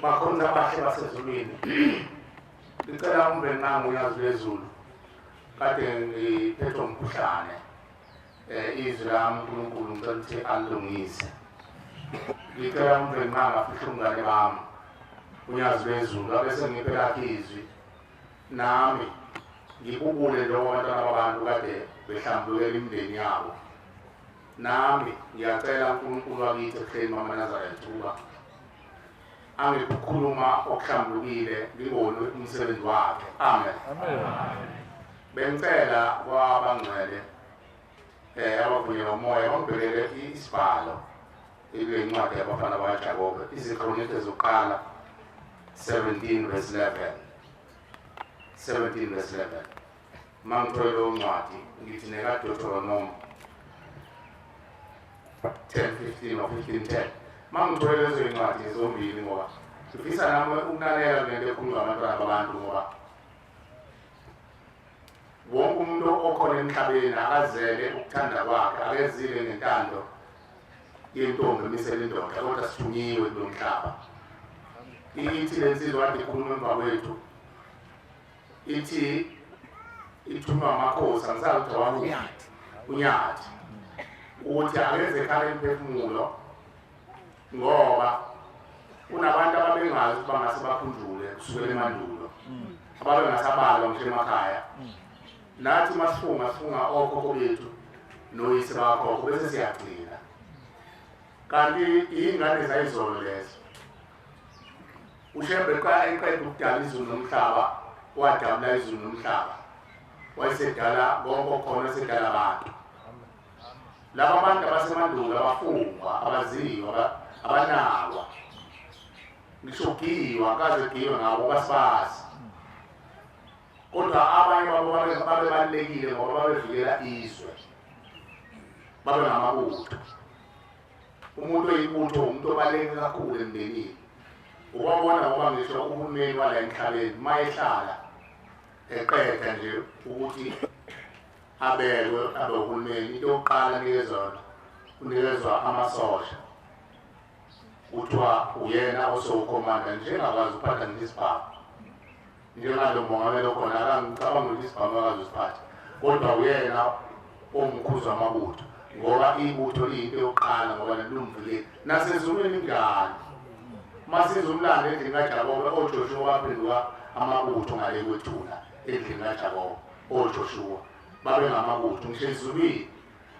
bakhona abahle basezulwini ngicela umbe nangu uyazi lezulu kade ngiphethwe umkhuhlane um izwi lami unkulunkulu ngicela ukuthi alilungise ngicela umbe nangu afihle umngane bami unyazi lwezulu abese ngiphe lakhe izwi nami ngibubule lowo bantwana babantu kade behlambukela imindeni yabo Nami ngiyacela uNkulunkulu wakithi ehleni mama Nazareth ukuba angikukhuluma okuhlambulukile ngibone umsebenzi wakhe. Amen. Amen. Bengicela kwabangcwele eh abavunywe umoya bangibhekele isibhalo incwadi yabafana bakaJakobe izikronike zokuqala 17 verse 11 17 verse 11 uma ngithole leyo ncwadi ngithi nekadotoronomo 10:15 or 15:10 uma ngithole lezo ncwadi zombili ngoba ngifisa nami ukunakela ngento ekhulunywa abantwana babantu ngoba wonke umuntu okhona emhlabeni akazele ukuthanda kwakhe akezile ngentando yentombi emisela indoda kodwa sithunyiwe kulo mhlaba ithi le nsizwa kade ikhuluma emva kwethu ithi ithunywa amakhosi angisazi ukuthi awanyathi unyathi ukuthi akenze ekhale imphefumulo ngoba kunabantu ababengazi ukuthi bangase bakhunjule kusukela emandulo ababengasabalwa ngisho emakhaya nathi uma sifunga sifunga okhokho bethu noyise bakhokho bese siyagcina kanti iy'ngane zayizolo lezo ushembe qa eqeda ukudala izulu nomhlaba wadabula izulu nomhlaba wayesedala konke okhona esedala abantu laba bantu abasemandulo abafungwa abaziwa abanakwa ngisho giwa kaze giwe ngabo basibazi kodwa abanye babo babebalulekile ngoba babevikela izwe babe ngamabutho umuntu oyibutho umuntu obaluleke kakhulu emndenini ubabona ngoba ngisho uhulumeni wala emhlabeni uma ehlala eqeda nje ukuthi abekwe abe uhulumeni into yokuqala nikezona unikezwa amasosha kuthiwa uyena osewukhomanda njengakwazi ukuphatha ngisibhamu njengalo mongameli okhona akangicabanga ukuthi isibhamu akazosiphatha kodwa uyena omkhuza amabutho ngoba ibutho liyinto yokuqala ngoba nelumvulile nasezulwini njalo masiza umlando endlini kajakobe ojoshuwa baphenduka amabutho ngale kwethula endlini kajakobe ojoshuwa babengamabutho ngisho ezulwini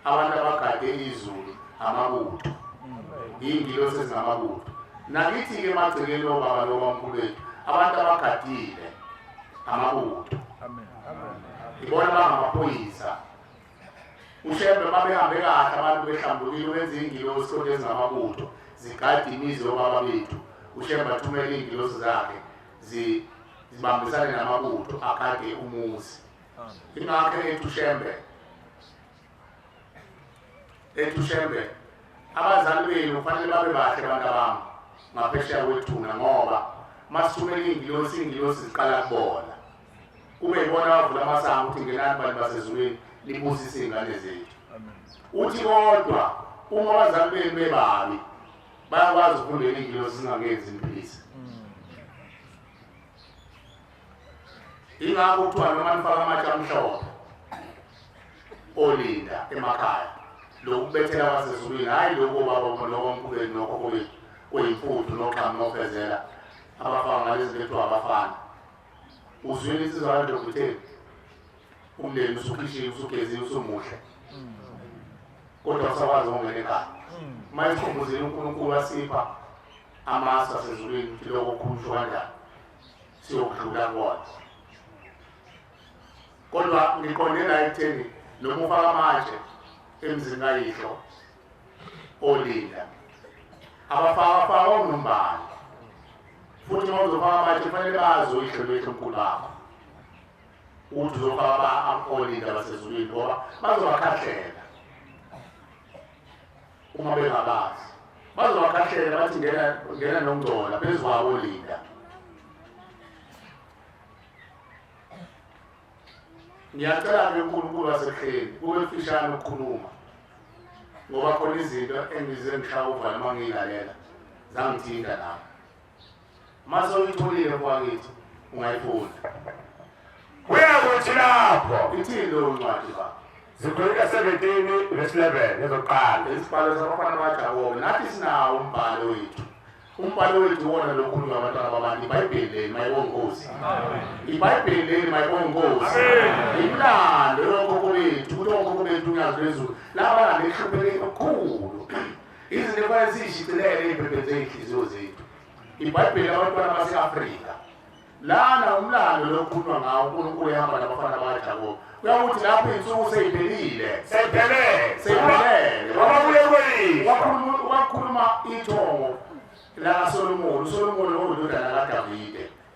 abantu abagade izulu amabutho iy'ngilosi ezingamabutho nakithi-ke emagcekeni obaba lobamkhulu bethu abantu abagadile amabutho ibona bangamaphoyisa ushembe uma behambe kahle abantu behlambulile benza iy'ngilosi kodwa ezingamabutho zigade imizi yobaba bethu ushembe athumele iy'ngilosi zakhe zibambisane namabutho agade umuzi ingakho ethu shembe ethu shembe abazali benu kufanele babe bahle abantu abami ngaphesheya kwethuna ngoba masithumela iy'ngilosi iy'ngilosi ziqala kubona kube yibona bavula amasango ukuthi ngenani bantu basezulwini libusise iy'ngane zethu uthi kodwa uma abazali benu bebabi bayakwazi ukufundela iy'ngilosi zingangenzi imphilisi ingakho kuthiwa noma nifaka amatshe amhlophe olinda emakhaya lokubethela kwasezulwini hhayi lokho baba nokomkhulweni nokho kwethu kuyimfuthu noxhamu nofezela abafana ngalezi bethu abafana uzwile insizwa kanti lokutheni umndeni usukhishile usugezile usumuhle kodwa usakwazi ukungena ekhaya uma esikhumbuzile unkulunkulu wasipha amasu asezulwini ukuthi lokho khumsho kanjani siyokudlula kona kodwa ngiqonde la ekutheni noma ufaka manje emzini kayihlo olinda abafaka faka unombani futhi uma uzofaka manje kufanele bazi uyihlo lwethu mkhulu bakho ukuthi uzofaka abaolinda basezulwini ngoba bazobakhahlela uma bengabazi bazobakhahlele bathi ngena ngena nongcola phezu kwabo linda ngiyacela ke uNkulunkulu wasekheli kube mfishane ukukhuluma ngoba khona izinto engize ngishawa uvala uma ngiyilalela zangithinta nami Mase uyitholile kwakithi ungayifunda. Kuya kuthi lapho ithini leyo ncwadi ba. Zikhuleka 17 verse 11 ezoqala. Isibhalo sabafana baJakobe nathi sinawo umbhalo wethu. Umbhalo wethu wona lokhuluma abantwana babantu iBhayibheli leli mayibongozi. IBhayibheli leli mayibongozi. Imlando yonke kubethu, kuthi wonke kubethu unyazi lwezulu. Laba ngehluphe elikhulu. Izinto efanele siyishicilele ey'mpepeni zey'nhliziyo zethu. IBhayibheli labantwana base-Afrika. Lana umlando lokukhulunywa ngawo uNkulunkulu ehamba nabafana bakaJakobe. Kuyakuthi lapho iy'nsuku seyiphelile. Seyiphelele. Seyiphelele. Wababuye kweyiswa. Wakhuluma wakhuluma ithongo lakaSolomoni. USolomoni ongundodana kaDavide.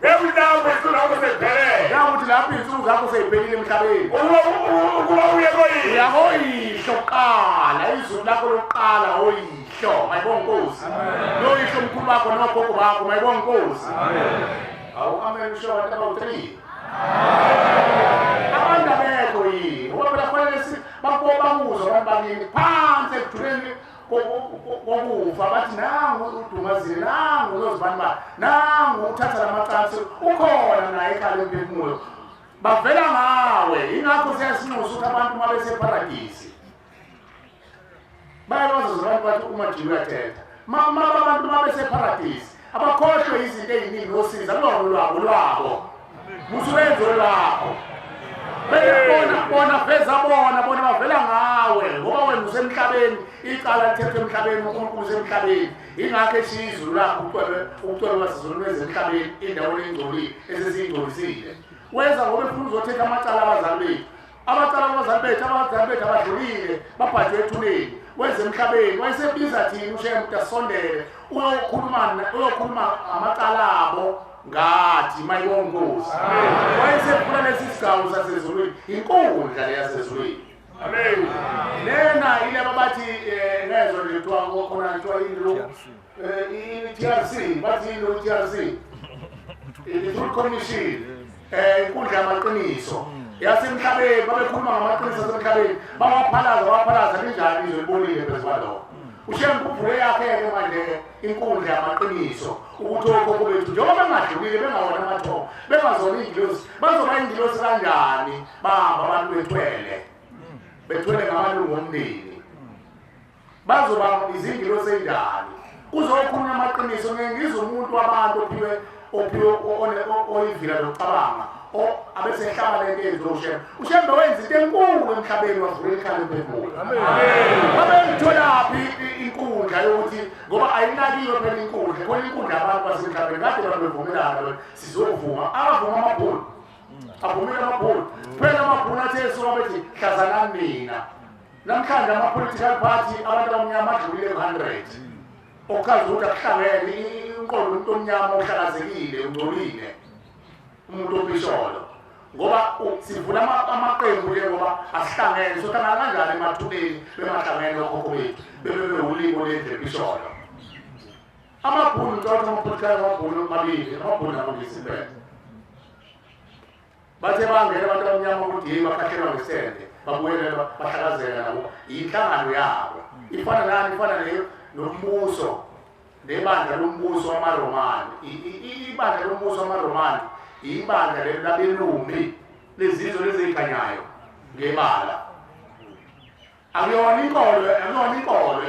Ngezintambo izinsuku zakho seziphelele. Nawukuthi lapho izinsuku zakho seziphelile emhlabeni. Ukuba uye koyihlo. Uya koyihlo kuqala, izulu lakho lokuqala oyihlo. Mayibonga inkosi. Noyihlo omkhulu bakho nogogo bakho, mayibonga inkosi. Awu amen usho abantu abawuthelile. Abantu abekho yini? Ngoba phela kufanele bakubo bakuzwa abantu baningi phansi ekujuleni kokufa bathi nangu udumazile nangu unozibani ba nangu uthatha la macansi ukhona naye ekhale emphefumulo bavela ngawe yingakho siyasinxusa ukuthi abantu uma beseparadisi bayakwazi abantu bathi umajini uyathetha mama abantu uma beseparadisi abakhohlwe izinto eziningi osiza lona lwabo lwabo musubenzi olwabo beyabona bona veza bona bona bavela ngawe ngoba wena usemhlabeni icala lithethwe emhlabeni unkulunkulu usemhlabeni ingakho esizulu lakho ucwebe ucwebe basizulu lwezenhlabeni indawo lengcolile esesiyingcolisile wenza ngoba efuna uzothetha amacala abazali bethu abacala abazali bethu abazali bethu abadlulile babhajwe ethuneni wenze emhlabeni wayesebiza thina usheya ukuthi asondele uyokhuluma uyokhuluma amacala abo ngathi mayongozi wayesefuna lesi sigawu sasezulwini inkundla leyasezulwini amen lena ile babathi eh, ngezwe lethu akokhona kuthiwa indlu Eh, i-TRC bathi yini i-TRC i-Truth Commission eh inkundla yamaqiniso yasemhlabeni babekhuluma ngamaqiniso asemhlabeni bawaphalaza bawaphalaza linjani izwe libonile phezu kwalokho ushiya ngikhumbule yakhe-ke manje-ke inkundla yamaqiniso ukuthi okhokho bethu njengoba bengadlulile bengawona amathongo bengazona iy'ngilosi bazoba iy'ngilosi kanjani bahamba abantu bethwele bethwele ngamalungu omndeni bazoba izingilo sendalo kuzokhulunywa amaqiniso ngeke ngizwe umuntu wabantu ophiwe ophiwe oyivila lokucabanga abese ehlaba le nto yenziwa ushembe ushembe wenza into enkulu emhlabeni wavula ikhanda emphefumulo babeyitholaphi inkundla yokuthi ngoba ayinakiwe phela inkundla khona inkundla abantu basemhlabeni kade abantu bevumelana sizovuma abavuma amabhulu avumile amabhulu phela amabhulu athe esuka bethi hlazanani mina Namhlanje ama-political party abantu abamnyama adlulile ku-hundred okuchaza ukuthi akuhlangene inqondo umuntu omnyama ohlakazekile ungcolile umuntu opisholo ngoba sivula amaqembu ke ngoba asihlangene sohlangana kanjani emathuneni bemahlangene okhokho bethu bebebewulimo lendle pisholo amabhunu ntotho amaphothikala amabhunu amabili amabhunu akulisimpela Bathe bangena abantu abamnyama ukuthi yini bakhathelwa ngesende babuyele bahlakazela nabo yinhlangano yabo ifana nani ifana leyo nombuso nebandla lombuso wamaRomani ibandla lombuso wamaRomani ibandla lelo labelumbi lezizwe lezikhanyayo ngebala Akuyona inkolo, akuyona inkolo,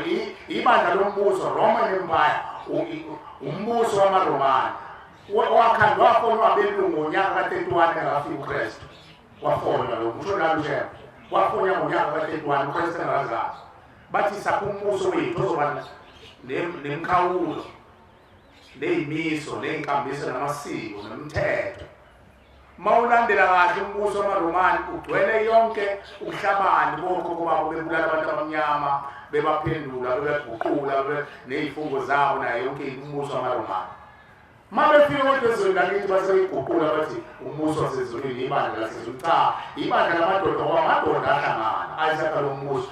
ibandla lombuso Roman Empire, umbuso wamaRomani. Wakhandwa wafonwa abelungu ngonyaka ka-31 engakafiki uKristu. Wafonwa lo kusho nalo shema. Wafonwa ngonyaka ka-31 uKristu engakazalwa. Bathi sakho umbuso wethu ozoba nemkhawulo neyimiso neyinkambiso namasiko nomthetho mawulandela kahle umbuso wamaRomani ugcwele yonke ubuhlabani bokhokho babo bebulala abantu abamnyama bebaphendula bebeguqula nezifungo zabo naye yonke umbuso wamaRomani mabefika kodwa ezweni lakithi baseyiguqula bathi umbuso wasezulwini ibandla lasezulu cha ibandla lamadoda ngoba amadoda ahlangana ayesakha lo mbuso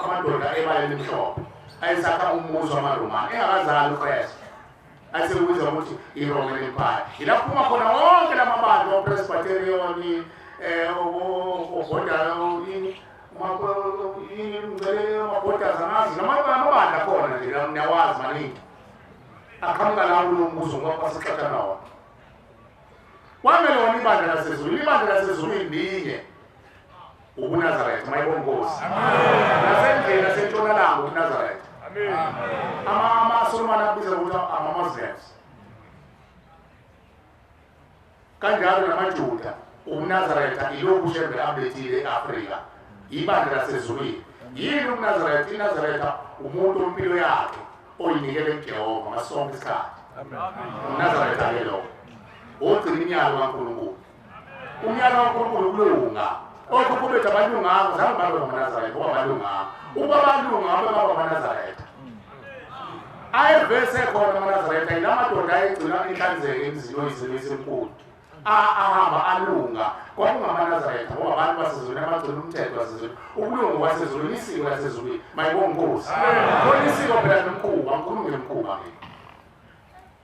amadoda ebaleni mhlophe ayesakha umbuso wamaRomani engakazali uKristu asekubiza ukuthi i-roman empire yila kuphuma khona wonke la mabandla opresbyterioni um ogodaamabhodaza amazi namabandla akhona nje niyawazi maningi aqhamuka lawo kulo mbuzo ngoba kwasixaxa nawo kwamele wona ibandla lasezulwini ibandla lasezulwini linye ubunazaretha mayibona inkosi nasendlela sentshonalanga ubunazaretha amasolomane akubiza ukuthi ama-muslims kanjalo namajuda ubunazaretha ilokhu shembe abethile e-afrika ibandla lasezulwini yini ubunazaretha inazaretha umuntu ompilo yakhe oyinikele kujehova ngasonke isikhathi unazaretha ke lokho ogcina imyalo kankulunkulu umyalo waNkulunkulu ukulunga okhokhobethi abalunganga zange babe ngamaNazaretha ngoba balunganga ukuba balunga ngabe baba amaNazaretha ayevese khona amaNazaretha yila madoda ayegcina inhlanzeko emzini oyizimo esinkulu ahamba alunga kwakungamaNazaretha ngoba abantu basezulwini abagcina umthetho wasezulwini ukulunga kwasezulwini isiko lasezulwini mayibongozi khona isiko phela nomkhuba ngikhulume ngemkhuba mina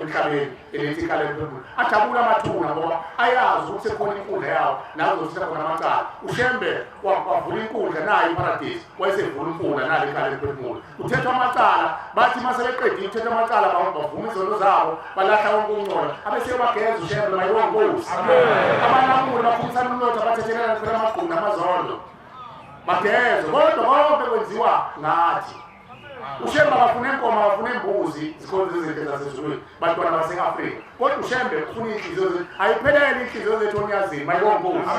emhlabeni eletha ikhala eliphezulu ajabule amathuna ngoba ayazi ukuthi sekhona inkundla yawo nazo zithakhona amacala ushembe wavula inkundla nayo iparadisi wayesevula umfula nalo iqala eliphefumula kuthethwa amacala bathi uma sebeqedile ukuthetha amacala bavuma izono zabo balahla wonke ukuncola abeseyobageza ushembe mayewonkosi abanamule baphumisa umnotho abathethelana phela amagqumi namazondo bageze kodwa konke kwenziwa ngathi ushembe abafuna enkomo abafuna embuzi zikhonza izinto zasezulwini bantwana base-afrika kodwa ushembe ufuna iy'nhliziyo zethu ayiphelele iy'nhliziyo zethu onyazini mayewonkosi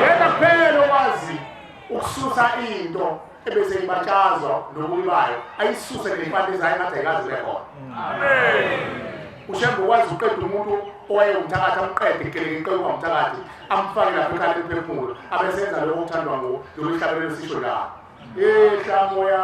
yena kuphela okwazi ukususa into ebese ibatshazwa nobubi bayo ayisuse nempande zayo ngathi ayikazi ubekhona ushembe ukwazi ukuqeda umuntu owayewumthakathi amqede ikelekekele ungamthakathi amfake lapho ekhale liphefumulo abesenza lokho okuthandwa nguwo lolu hlabelo sisho la ehlamoya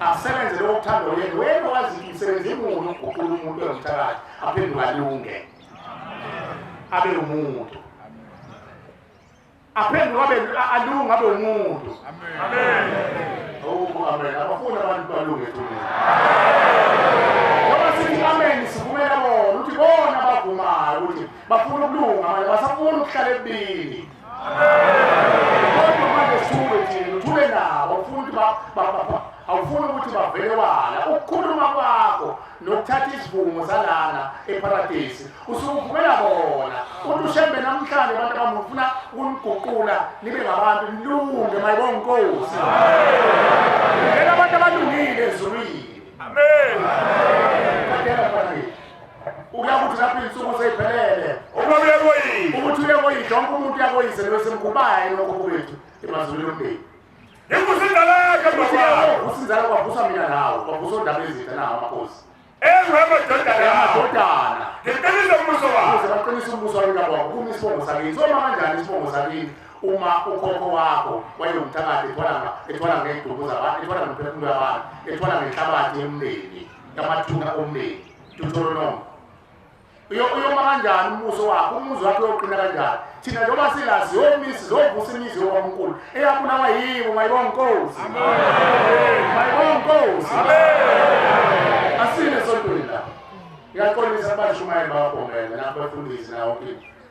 asebenze lokho kuthanda uyena wena wazi imisebenzi imuni ukuguqula umuntu ozithakathi aphenduka lunge abe umuntu aphenduka abe alunga abe umuntu amen oh amen abafuna abantu balunge thina ngoba sithi amen sivumela bona ukuthi bona abavumayo ukuthi bafuna ukulunga manje basafuna ukuhlala ebini kodwa manje suke thina uthule nabo ufuna ukuthi awufuni ukuthi bavele wala ukukhuluma kwakho nokuthatha isivumo salana eparadesi usukuvumela bona uthi ushembe namhlanje abantu abamufuna ukuniguqula nibe ngabantu nilunge mayibonga inkosi ngena abantu abalungile ezulwini amen ukuya ukuthi lapho iy'nsuku seyiphelele uma uye koyise ukuthi uye koyise wonke umuntu uyakoyise nowesemgubaye lokho kwethu emazulwini omndeni inkosi indala yakhe uvusa inzala kwavusa mina nawe kwavusa ondaba ezinhle nawo amakhosi ewemadodana ngiqinise umbuso wabo ukuze baqinise umbuso wababo kume isibongo sakini soma kanjani isibongo sakini uma ukhokho wakho wayewumthakathi ethwala ngey'duku zabantu ethwala ngemphefumulo yabantu ethwala ngenhlabathi yomndeni yamathunga omndeni Deuteronomy uyoma kanjani umuso wakhe umuzi wakhe uyoqina kanjani thina njengoba silazi yomisi zovusa imizi yokwamkulu eyabulawa yibo mayibonkosi mayibonkosi asine sontweni la ngiyaqondisa abashumayeli bawagombela nabafundisi nawo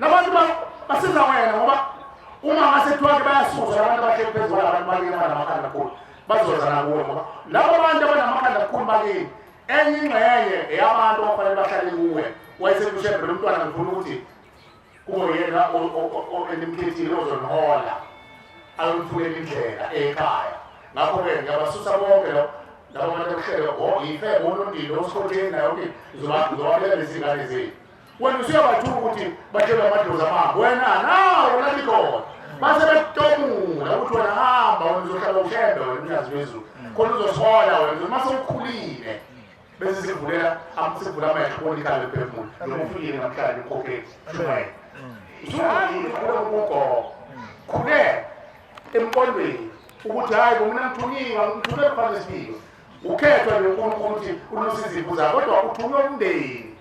Labantu basiza wena ngoba uma ngasethiwa ke bayasuza abantu abahleli phezu kwalabantu bakini abanamakhanda kukhulu bazoza nakuwe ngoba labo bantu abanamakhanda kukhulu bakini enye ingxenye eyabantu abafanele bahlale kuwe wayesekushebre lo mntwana ngifuna ukuthi kube yena enimkhethile ozonihola ayomfunela indlela ekhaya ngakho-ke ngiyabasusa bonke lo laba bantu okuhlele yife bonondile osikhotheni nayo ngizobabelela izingane zethu wena usuyabathuka ukuthi batshelwe amadlozi amabo wena nawo nalikhona base bekutomula ukuthi wena hamba wena uzohlala ushembe wena umnyazi wezulu khona uzoshola wena uma sewukhulile bese sivulela sivula amehlo bonikale phefumulo noma ufikile namhlanje ukhokheli shumayela usuhamba ukhule kugogo khule emqondweni ukuthi hhayi bomina ngithunyiwe ngithule kufanele sibike ukhethwe nonkulunkulu ukuthi uluse izimvu zakho kodwa uthunywe umndeni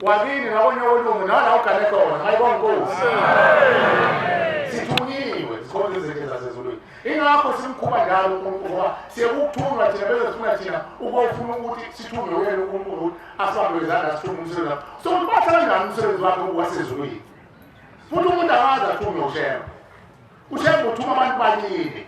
wakini nakonye olungu nala ugane khona hayi kwankosi sithunyiwe zikhona izinto zasezulwini ingakho simkhuma njalo unkulunkulu ngoba siyekuthunywa thina bese sifuna thina ukofuna ukuthi sithunywe wena unkulunkulu ukuthi asibambe izandla sithume umsebenzi wakho so ukuthi bathatha njani umsebenzi wakhe wasezulwini futhi umuntu akazi athunywe ushemba ushemba uthuma abantu baningi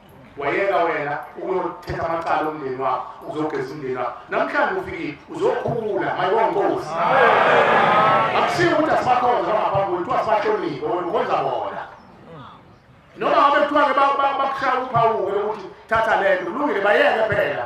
wayeka wena ukuyothetha amacala omndeni wakho uzogeza umndeni wakho namhlanje ufikile uzokhula mayongozi akusiyo ukuthi asibakhonza bangaphambi kuthiwa sibahloniphe wena ukwenza bona noma ngabe kuthiwa-ke bakushaya uphawuke lokuthi thatha le nto kulungile bayeke phela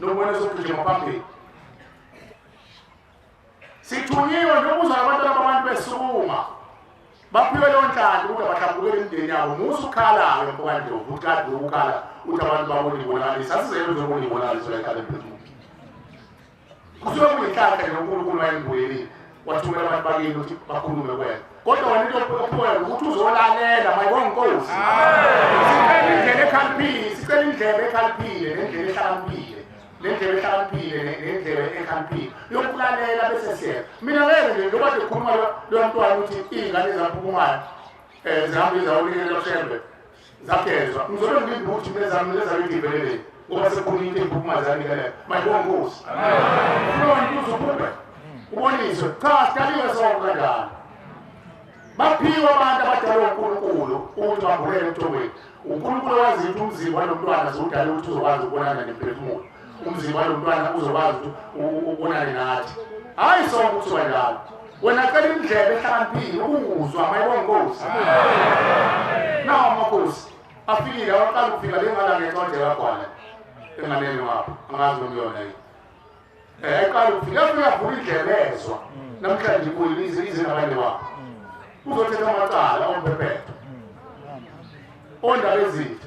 nokubona sokugijima phambili sithunyiwe njengokuza abantwana babantu besukuma baphiwe leyo nhlanda ukuthi abahlambukele imindeni yabo musa ukhalayo mfowanje ukuthi kade ukukhala ukuthi abantu babona ibonakaliso asizele uzobona ibonakaliso la ekhale phezulu Kusuke kuyinhlanhla nje uNkulunkulu wayembuyelile wathumela abantu bakini ukuthi bakhulume kwena kodwa wena into ophiwa ukuthi uzolalela mayibonga inkosi sicela indlela ekhaliphile sicela indlela ekhaliphile nendlela ehlakaniphile nendlela ehlakaniphile nendlela ekhaliphile yokulalela bese siyenza mina ngeke nje njengoba nje khuluma lo mntwana ukuthi iy'ngane ezaphukumayo um zihambe izawulikela loshembe Zakezwa ngizolo ngibindi ukuthi nezami nezami ngivelele ngoba sekukhona into ephukumazani kale mayibonga Nkosi. Kulo ntuzo phuphe uboniswe cha sidaliwe sonke kanjalo. Baphiwa abantu abadalwa uNkulunkulu ukuthi bambulele emthomweni. UNkulunkulu wazi ukuthi umzimba nomntwana ziwudala ukuthi uzokwazi ukubonana nemphefumulo. umzimba walomntwana uzokwazi ukuthi ubonane nathi hayi sonke kuthiwa njalo wena cela indlebe ehlakaniphile ukunguzwa mayibonkosi nawo amakhosi afikile awaqala ukufika lengala ngencwadi yakagwana enganeni wapho angazi nomyona yini um ayiqala ukufika afika avula indlebe ezwa namhlanje ibuyile izingabane wapho uzothetha amacala ompephetho ondaba ezinhle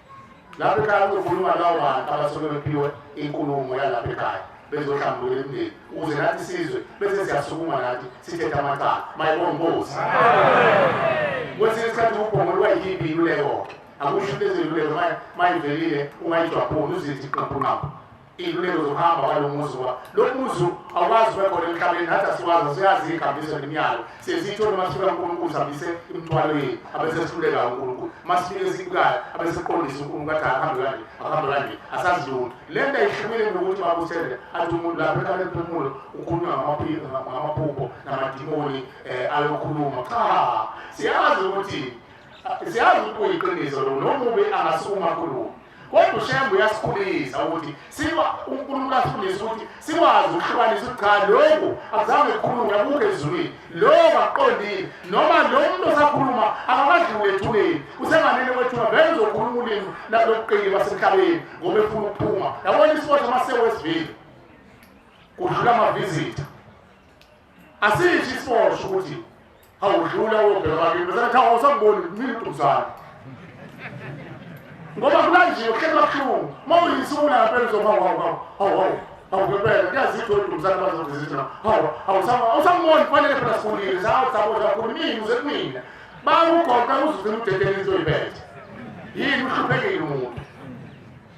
Lapha ekhaya kuzokhuluma lawo bantu abasuke bephiwe inkulumo yalapha ekhaya bezohlambulula imindeni ukuze nathi sizwe bese siyasukuma nathi sithethe amacala mayibona inkosi kwesinye isikhathi ubhongo lwayiyiphi iluleko akusho leziluleko mayivelile ungayijwaphuni uzithi qaphuqaphu iy'luleko zokuhamba kwalo muzi ngoba lo muzi awukwazi ubekhona emhlabeni nathi asikwazi asiyazi iy'kambiso nemiyalo siyeziyithole uma sifika unkulunkulu sihambise imithwalo yethu abesesihluleka unkulunkulu uma sifike esikukayo abesiqondisa unkulunkulu athi akahambe kanje akahambe kanje asazi lutho le nto ayihlukile ngokuthi bakusele athi umuntu lapho ekhale emphefumulo ukhulunywa ngamaphupho namadimoni um ayokhuluma cha siyazi ukuthi siyazi ukuthi kuyiqiniso lo nomubi angasukuma khulumo Kodwa uShembe uyasikhulisa ukuthi siba uNkulunkulu asifundisa ukuthi sikwazi ukuhlukanisa ukuthi cha lokhu akuzange kukhulunywe akukho ezulwini lokho akuqondile noma lo muntu osakhuluma akakadli wethuleni usenganele kwethula vele uzokhuluma ulimi lobuqili basemhlabeni ngoba efuna ukuphuma yabona isiboshwa masewesivile kudlula amavizitha Asisho isiboshwa ukuthi awudlula wobheka bakini bese kuthiwa awusamboni mina uDumsane. Ngoba kulanjiwe kuhleli kabuhlungu. Uma uyisula ngempela uzoba wawu wawu hawu hawu. Awukepela kuyazitho uDumsane bazokuzithi na. Hawu awusama awusamboni kufanele phela sikhulile sawu saboshwa kakhulu mina uze kumina. Bakugoqa uzuze umdedeli into oyiphethe. Yini uhluphekile umuntu.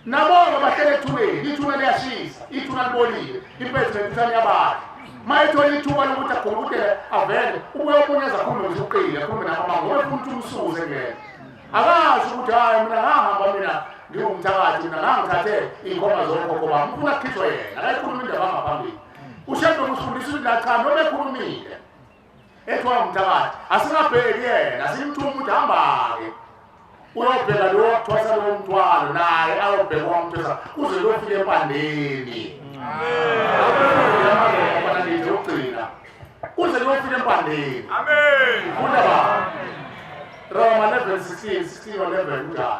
Nabonga bahlele ethubeni, ithuba liyashisa, ithuba libolile, impethu nemithane yabala. Mayethola ithuba lokuthi agobukele avele, ubuye omunye azakhulume nje uqile, akhulume nabo mama, ngoba futhi umsuze ngeke. Akazi ukuthi hayi mina ngahamba mina ngiwumthakathi mina ngangithathe iy'nkomo zokhokho bami, ufuna kukhishwa yena, akayikhuluma indaba ngaphambili. Ushado kusifundisa ukuthi la cha noma ekhulumile Ethwa umthakathi asingabheki yena simthuma ukuthi hamba-ke uyobheka lowo wakuthwasa lowo mthwalo naye ayobheka wamthwasa kuze lofika empandeni nje ukugcina kuze lofika empandeni funda ba roma 11 16 16 11 kunjalo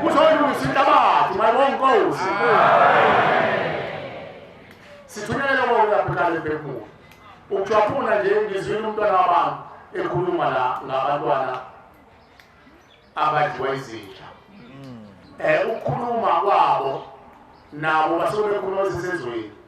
Kuzolungisa inhlabathi mayibonga inkosi. Sithunyelele konke abhekane bekuwo. Ukujwaphuna nje ngizwile umntwana wabantu ekhuluma la ngabantwana abadliwa izinja. Eh ukukhuluma kwabo nabo basuke bekhuluma sisezweni.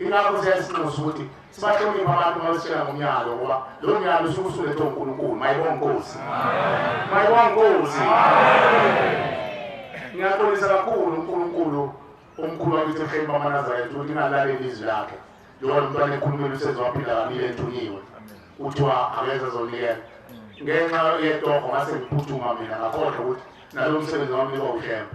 Ingakho siyasinxusa ukuthi sibahloniphe abantu babesitshela ngomyalo ngoba lo myalo usuke usulethe uNkulunkulu. Mayibonge Nkosi. Mayibonge Nkosi. Ngiyaxolisa kakhulu uNkulunkulu omkhulu wakithi ehleli bamanazaretha ukuthi ingalaleli izwi lakhe njengoba umntwana ekhulumile usezowaphila kabili ethunyiwe kuthiwa akeze zonikela ngenxa yetoho ngase ngiphuthuma mina ngakhohlwa ukuthi nalo msebenzi wami liba ushembe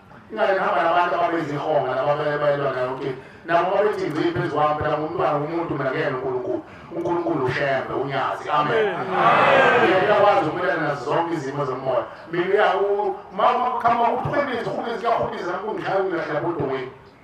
Ingane ngihamba nabantu ababezihonga nababebayelwa nayo ukuthi nabo babethi ngci phezu kwami phela ngumntwana womuntu mina kuyena uNkulunkulu uNkulunkulu ushembe unyazi amen uyakwazi ukumelana nazo zonke izimo zomoya mina uma uqhamuka uphwebezi uphwebezi kuyahubisa kungishaya ungilahlapha odongweni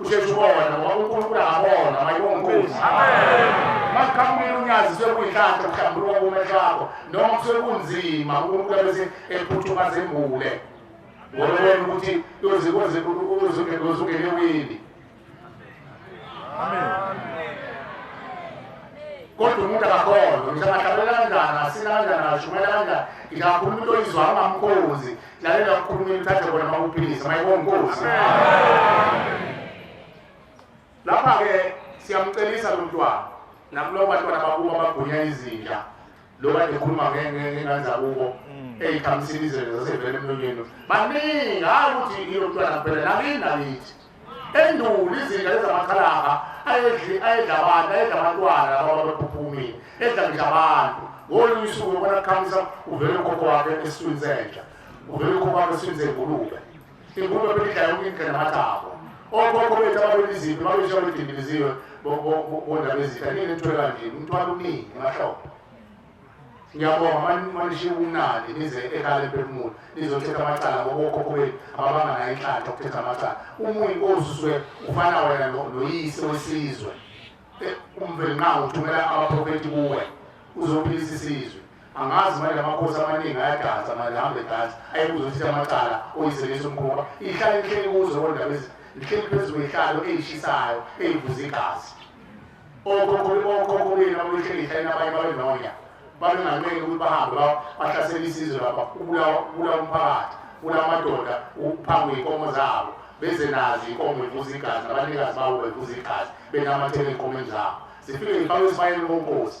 usheshe ubone ngoba unkulunkulu angabona mayibonkunzi masiqhamukile unyazi sekuyinhlanhla kuhlambuluka kumehlo akho noma sekunzima unkulunkulu abese ephuthuma zembule ngoba ubona ukuthi uzungene wini kodwa umuntu akakholwa ngisho angahlabela kanjani asina kanjani ashumayela kanjani ngingakhuluma into oyizwa angamkhozi Lalela mkhulumeli uthathe bona makuphilisa mayibonga inkosi. Lapha ke siyamcelisa lo mntwana nakulo bantwana bakubo abagunya izinja lo kade ekhuluma ngengane zakubo mm. eyikhamsini izinto zasevele emlonyeni baningi hayi ukuthi ilo mntwana kuphela nakini nakithi endulo izinja ezamakhalaha ayedli ayedla abantu ayedla abantwana laba babephuphumile edla nje abantu ngolunye usuku ubona kukhamisa uvele ukhokho wakhe esiswini senja uvele ukhokho wakhe esiswini sengulube ingulube belidla yonke indlela namathambo okhokho bethu ababeliziphi babesho bedindiliziwe bondabezitha ninethweka nje umthwalo uningi emahlombe ngiyabonga manishiya ubumnandi nize ekhaya lemphefumulo nizothetha amacala ngokokhokho benu ababanga nayo inhlanhla ukuthetha amacala uma uyinkosi usuke ufana wena noyise wesizwe eh, umveli nqa uthumela abaprofethi kuwe uzophilisa isizwe angazi manje amakhosi amaningi ayadansa manje hambe dansa ayekuzothetha amacala oyiselisa umkhumba ihlale lihleli kuzo kodwa lihleli phezu kwehlalo eyishisayo eyivuza igazi okhokho benu ababehlengisa abanye babenonya babengameli ukuthi bahambe bahlasela isizwe lapha ubulawa umphakathi ubulawa amadoda uphangwe iy'nkomo zabo beze nazo iy'nkomo ivuza igazi nabanikazi babo bevuza igazi benamathela ey'nkomeni zabo zifike zifakwe esibayeni konkosi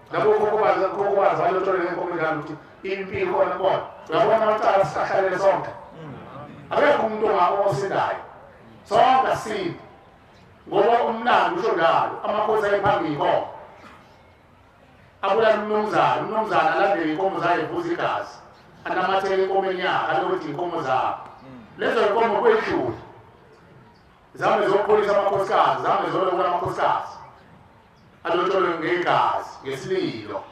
labo khokhobazi khokhobazi balotshole ngenkomo njalo ukuthi impilo khona kubona uyabona amacala sihlalele sonke akekho umuntu ongaosindayo sonke asindi ngoba umlando usho njalo amakhosi ayephambili kona abulala umnumzana umnumzana alandele inkomo zayo evuza igazi anamathele inkomeni yakhe alokuthi inkomo zakho lezo nkomo kwedlule zame zokuqolisa amakhosikazi zame zolokula amakhosikazi Alotsholwe ngegazi, ngesililo.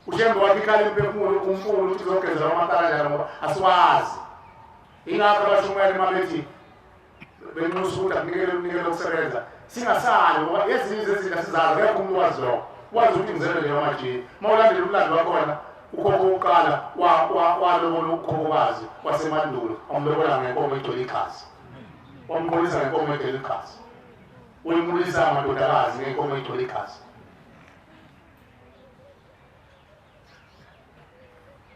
Ushembe wathi ikhala imphefumulo umfulu ukuthi uzogezela amathala njalo ngoba asiwazi. Ingakho abashumayeli uma bethi benxusa ukuthi akunikele umnikelo wokusebenza singasali ngoba ezinye zezinto asizazi akekho umuntu wazi lokho wazi ukuthi ngizele leyo majini uma ulandela umlando wakhona ukhokho wokuqala walobola ukukhokokazi wasemandulo wamlobola ngenkomo egcwele igazi wamqolisa ngenkomo egcwele igazi Uyibulisa amadodakazi ngenkomo egcwele igazi.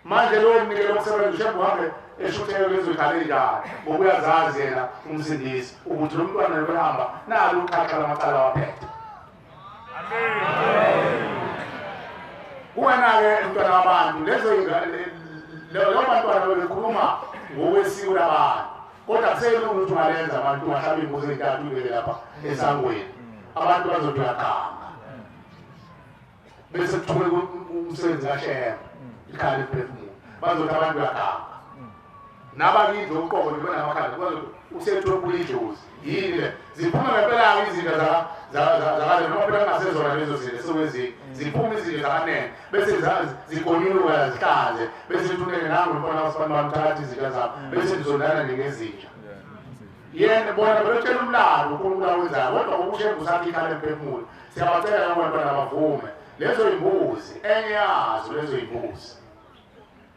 Manje lo mnikelo wokusebenza ushembe uhambe eshutheka lezodlala indawo ngoba uyazazi yena umsindisi ukuthi lo mntwana lokuhamba nalo uqhaqa lamacala waphethe. Kuwena-ke mntwana wabantu lezo lo bantwana bebekhuluma ngokwesiko labantu kodwa kusele ukuthi ungalenza abantu bahlaba imbuzi ezintathu ibeke lapha esangweni abantu bazothi uyaganga bese kuthuke umsebenzi kashema ikhaya liphefumulo bazothi abantu uyaganga nabakindle uqobo nibona amakhanda usethokulijozi yini le ziphuma ngempela-ke izinto zakale noma phela kungasezona lezo zinto esekwenzile ziphuma izinto zakanene bese zigonyuluka zihlanze bese ithuneke nangu lubona usibani bami thatha izinto zabo mm. bese ndizondana ningezinja yena bona belotshela umlalo unkulunkulu awenzayo kodwa ukushenga usakhe ikhala emphefumulo siyabacela nabona bavume lezo yimbuzi enye yazo lezo yimbuzi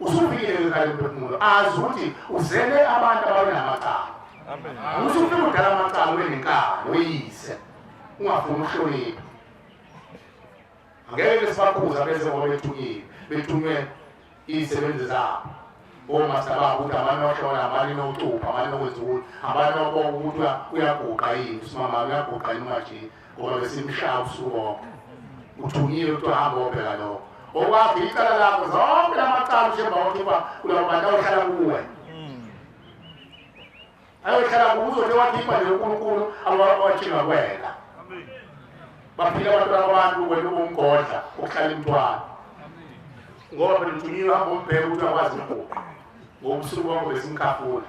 Usufikile kwekhaya lomphefumulo azi ukuthi uzele abantu ababenamacala. Usufika udala amacala ube nenkani uyise ungafuni uhlonipha. Angeke besibakhuza bese ngoba bethukile bethunywe izisebenzi zabo. Omasta babo ukuthi abantu ohlola abantu nokucupha abantu nokwenza ukuthi abantu okokuthi uyaguqa yini usimama uyaguqa yini manje ngoba besimshaya ubusuku bonke uthunyiwe kuthiwa hamba obheka lokho okwakho icala lakho zonke la macala ushemba wakhe uba kulabo bantu ayohlala kuwe ayohlala kuwe uzothi wakhipha nje unkulunkulu awathinga kwena baphila abantwana abantu wena ubumgodla ukuhlala imntwana ngoba phela uthunyiwe hamba umbheke ukuthi akwazi ukuguqa ngobusuku bonke besimkhafula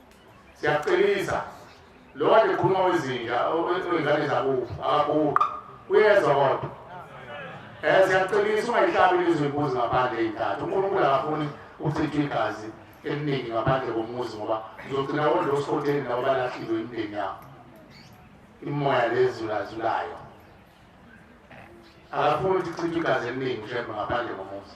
siyakuqinisa lo kade ekhuluma wezinja wengane zakufa akaguqi uyezwa kodwa um eh, siyakuqinisa ungayihlabi lizwe imbuzi ngaphandle eyintathu unkulunkulu akafuni ukuchitha igazi eliningi ngaphandle komuzi ngoba uzogcina wondla osikhotheni nabo balahliwe imindeni yabo imoya lezulazulayo akafuni ukuthi kuchitha igazi eliningi ushembe ngaphandle komuzi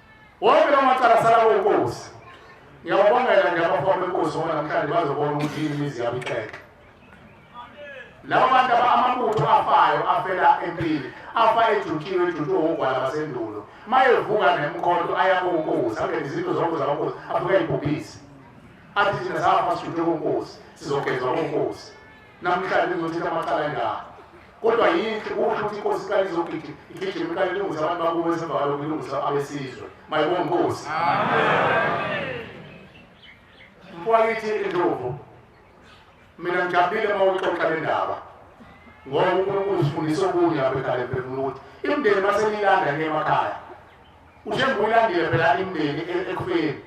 Wonke lawo macala asala kwenkosi. Ngiyababongela nje abafana benkosi ngoba namhlanje bazobona ukuthi yini imizi yabo ixeke. Lawo bantu amabutho afayo afela empini, afa ejutshiwe ejutshiwe wogwala basendulo. Mayevuka nemkhonto aya kunkosi, angene izinto zonke zabankosi, afike ayibhubhise. Athi thina safa sijutshwe kunkosi, sizogezwa kunkosi. Namhlanje ngizothetha amacala engaka. kodwa yinhle kusho ukuthi inkosi iqale izogidi igijima iqale ilungise abantu bakubo esemva kwalo kulungisa abesizwe mayibonga inkosi mfwakithi indlovu mina ngijabulile uma uxoxa le ndaba ngoba unkulunkulu usifundisa okunye lapha ekhaya emphefumulo ukuthi imindeni uma seniyilanda niyemakhaya ushenguyilandile phela imindeni e-, ekufeni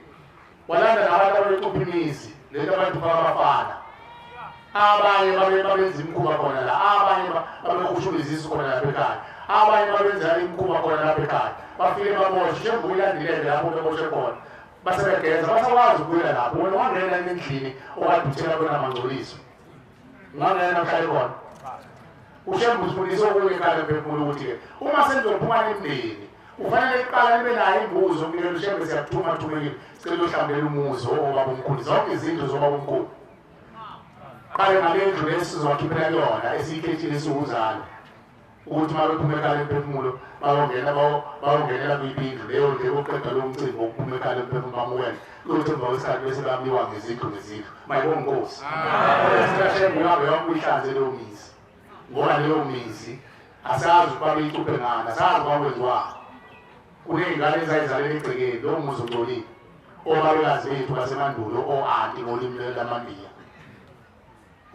walanda nabantu ababecupha imizi lento abantu babafana abanye babenza imikhuba khona la abanye babekushula izisu khona lapha ekhaya abanye babenza imikhuba khona lapha ekhaya bafike baboshe njengoba ulandilele lapho beboshe khona basebegeza basakwazi ukuya lapho wena wangena endlini owaduthela kona mangcoliso ngangena mhlali khona ushembe usifundisa okunye kale mphefumulo ukuthi-ke uma senizophuma nemndeni Ufanele kuqala nibe nayo imbuzo kumele ushembe siyakuthuma thumekile sicela uhlambele umuzi obaba omkhulu zonke izinto zobaba omkhulu qale ngalendlu lesizowakhiphela kuyona esiyikhethile esiwuzalo ukuthi uma bephuma ekhala emphefumulo bayongena bayongenela kwibindlu leyo nje koqeda lo mcimbi wokuphuma ekhala emphefumulo bamukele kuyothi emva kwesikhathi bese bamiwa ngezindlu ngezindlu mayibongosi siyashembe uyabe yonke uyihlanze leyo mizi ngoba leyo mizi asazi ukuba beyicuphe ngani asazi ukuba kwenziwani kuney'ngane ezayizalele egcekeni lowo muzi ungcolile obabekazi bethu basemandulo o-anti ngolimi lamabiya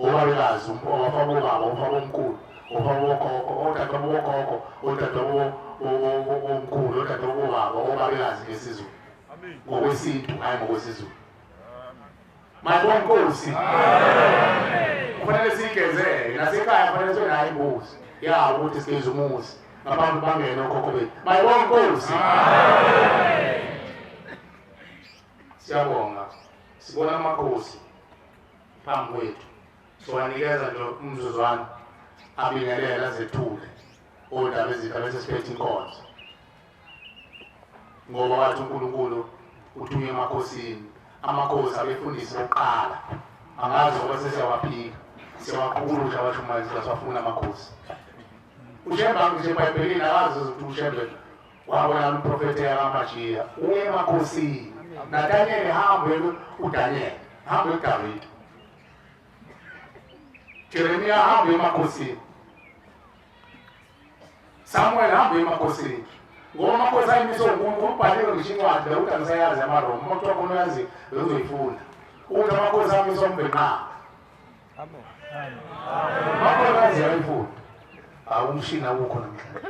obabekazi owafabobaba ofabomkhulu ofabobokhokho odadwabobokhokho odadwabobomkhulu odadwabobaba obabekazi ngesizulu ngokwesintu hhayi ngokwesizulu Mabonkosi. Kufanele sigezele nasekhaya kufanele sibe nayo imbuzi. Ya ukuthi sigeze umuzi. Abantu bangene okhokho bethu. Mabonkosi. Siyabonga. Sibona amakhosi phambi kwethu. Siwanikeza nje umzuzwana abingelela zethule. Odaba ezitha bese siphethe inkonzo. ngoba wathi uNkulunkulu uthunywe emakhosini amakhosi abefundisi bokuqala angazi ngoba sesiyawaphika siyawaqukulula abashumayeli sasafuna amakhosi ushembe ngisho ebhayibhelini akazi ukuthi ushembe wabona umprofethi eyakamajiya uye emakhosini nadanyele hambe udanyele hambe udavide jeremiya hambe emakhosini Samuel hamba emakhosini ngoba amakhosi ayimise umuntu umbhalile ngisho incwadi bekuthi angisayazi amaroma uma kuthiwa khona uyazi bekuzoyifunda ukuthi amakhosi amise umbhenqaba amakhosi azi yayifunda awumshini awukho namhlanje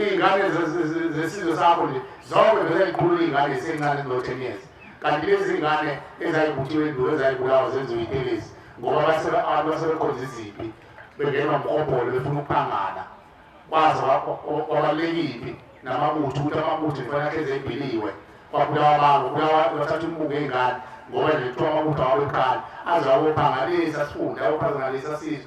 iy'ngane zesizwe sakho nje zonke vele zikhulu iy'ngane zisencane kuno-ten years kanti lezi ngane ezayibuthiwe endulo ezayibulawa zenziwe itelezi ngoba abantu basebekhonza iziphi bengenwa mkobholo befuna ukuphangana kwaze kwabalulekiphi namabutho ukuthi amabutho kufanele ahlezi ebiliwe kwabulawa abantu bulawa bathatha umbuko ey'ngane ngoba nje kuthiwa amabutho awabephana aze awophangalisa sifunde awophangalisa sizwe